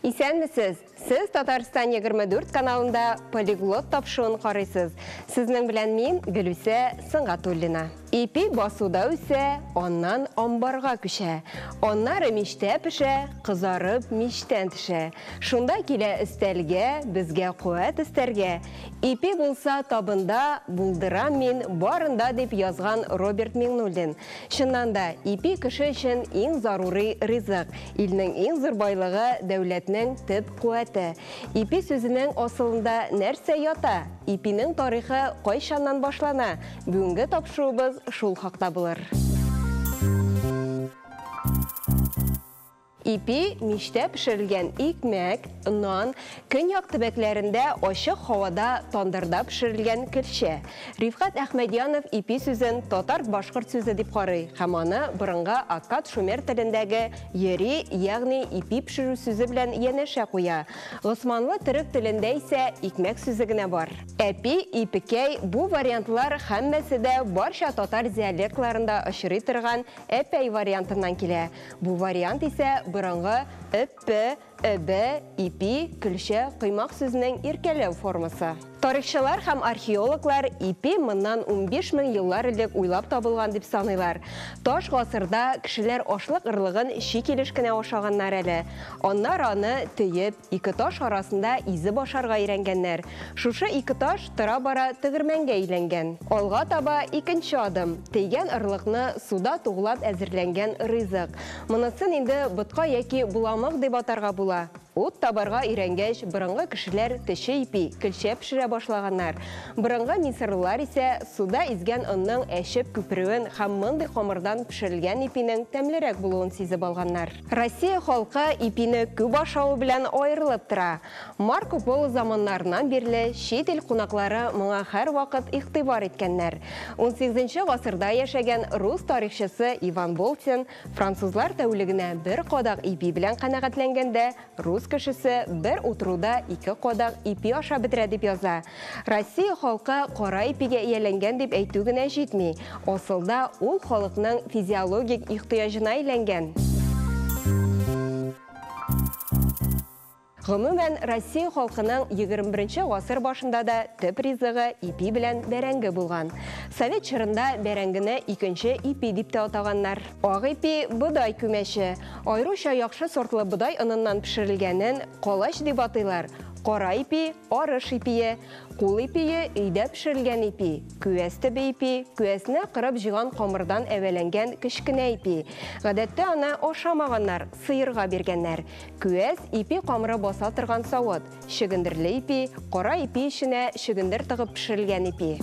Исәнмесез! Сез Татарстан 24 каналында полиглот тапшуын карыйсыз. Сезнең белән мин, Гөлүсә Сынгатуллина. Ипи басуда үсә, аннан амбарга күчә. Аннары мичтә пешә, кызарып, мичтән төшә. Шунда килә өстәлгә, безгә куәт өстәргә. Ипи булса табында, булдырам мин барында, дип язган Роберт Миңнуллин. Чыннан да, ипи кеше өчен иң зарури ризык, илнең иң зур байлыгы, дәүләтнең төп куәте. Ипи сүзенең асылында нәрсә ята? Ипинең тарихы кайчаннан башлана? Бүгенге тапшыруыбыз шул хакта булыр. Ипи, мичтә пешерелгән икмәк, нан, көньяк төбәкләрендә ачык һавада тандырда пешерелгән керчә. Рифкат Әхмәдьянов ипи сүзен татар-башкорт сүзе дип карый һәм аны борынгы аккад-шумер телендәге йери, ягъни ипи пешерү сүзе белән янәшә куя. Госманлы төрек телендә исә икмәк сүзе генә бар. Әпи, ипекәй, бу вариантлар һәммәсе дә барча татар диалектларында очрый торган әпәй вариантыннан килә. Бу вариант исә борынгы ып-пы, ы-бы, ипи, көлчә, коймак сүзенең иркәләү формасы. Тарихчылар һәм археологлар ипи моннан унбиш мең еллар элек уйлап табылган дип саныйлар. Таш гасырда кешеләр ашлык ырлыгын чи килеш кенә ашаганнар әле. Аннары аны төеп, Ике таш арасында изеп ашарга өйрәнгәннәр. Шушы ике таш тора-бара тегермәнгә әйләнгән. Алга таба икенче адым, тейгән орлыкны суда туглап әзерләнгән ризык. Монысын инде ботка яки боламык дип атарга була. Ут табарга өйрәнгәч, борынгы кешеләр төче ипи, көлчә пешерә башлаганнар. Борынгы мисырлылар исә суда изгән онның әчеп күперүен һәм мондый камырдан пешерелгән ипинең тәмлерәк булуын сизеп алганнар. Россия халкы ипине күп ашавы белән аерылып тора. Марко Поло заманнарыннан бирле чит ил кунаклары моңа һәрвакыт игътибар иткәннәр. Унсигезенче гасырда яшәгән рус тарихчысы Иван Болтин, Французлар тәүлегенә бер кадак ипи белән канәгатьләнгәндә, рус кешесе бер утыруда ике кадак ипи ашап бетерә дип яза. Россия халкы кара ипигә ияләнгән дип әйтү генә җитми, асылда ул халыкның физиологик ихтыяҗына әйләнгән. Гомумән, Россия халкының егермеберенче гасыр башында да төп ризыгы ипи белән бәрәңге булган. Совет чорында бәрәңгене икенче ипи дип тә атаганнар. Ак ипи, бодай күмәче, аеруча яхшы сортлы бодай оныннан пешерелгәнен колач дип атыйлар. Кара ипи, арыш ипие, кул ипие, өйдә пешерелгән ипи, күәс төбе ипи, күәсне кырып җыйган камырдан әвәләнгән кечкенә ипи. Гадәттә аны ашамаганнар, сыерга биргәннәр. Күәс, ипи камыры баса торган савыт. Чөгендерле ипи, кара ипи эченә чөгендер тыгып пешерелгән ипи.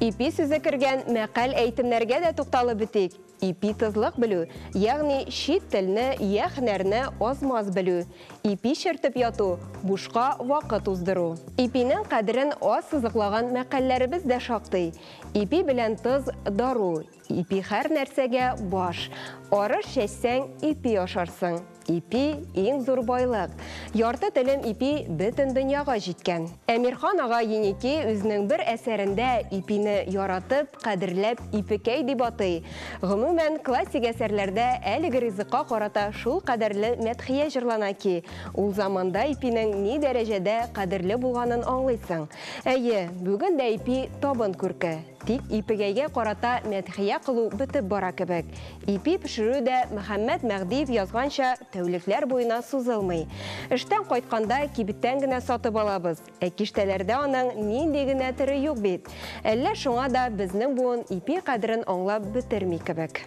Ипи сүзе кергән мәкаль-әйтемнәргә дә тукталып бетик. Ипи тызлык белү, ягъни чит телне йә һөнәрне аз-маз белү. Ипи чертеп яту, бушка вакыт уздыру. Ипинең кадерен аз сызыклаган мәкальләребез дә шактый. Ипи белән тыз, дару, Ипи хәр нәрсәгә баш. Арыш чәчсәң, ипи ашарсың. Ипи, иң зур байлык. Ярты телем ипи бөтен дөньяга җиткән. Әмирхан ага Еники үзенең бер әсәрендә ипине яратып, кадерләп ипекәй дип атый. Гомумән, классик әсәрләрдә әлеге ризыкка карата шул кадәрле мәдхия җырлана ки, ул заманда ипинең ни дәрәҗәдә кадерле булганын аңлыйсың. Әйе, бүген дә ипи табын күрке. Тик Ипегәйгә карата мәдхия кылу бетеп бара кебек. Ипи пешерү дә, Мөхәммәт Мәгъдиев язганча, тәүлекләр буена сузылмый. Эштән кайтканда кибеттән генә сатып алабыз. Ә киштәләрдә аның нинди генә төре юк бит! Әллә шуңа да безнең буын ипи кадерен аңлап бетерми кебек.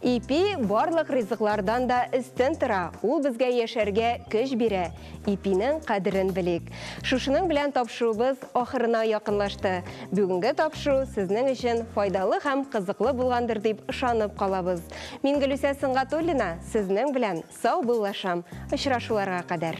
Ипи барлык ризыклардан да өстен тора, ул безгә яшәргә көч бирә. Ипинең кадерен белик. Шушының белән тапшыруыбыз ахырына якынлашты. Бүгенге тапшыру сезнең өчен файдалы һәм кызыклы булгандыр дип ышанып калабыз. Мин Гөлүсә Сөнгатуллина, сезнең белән Сау бул Лашам, очрашуларга кадәр.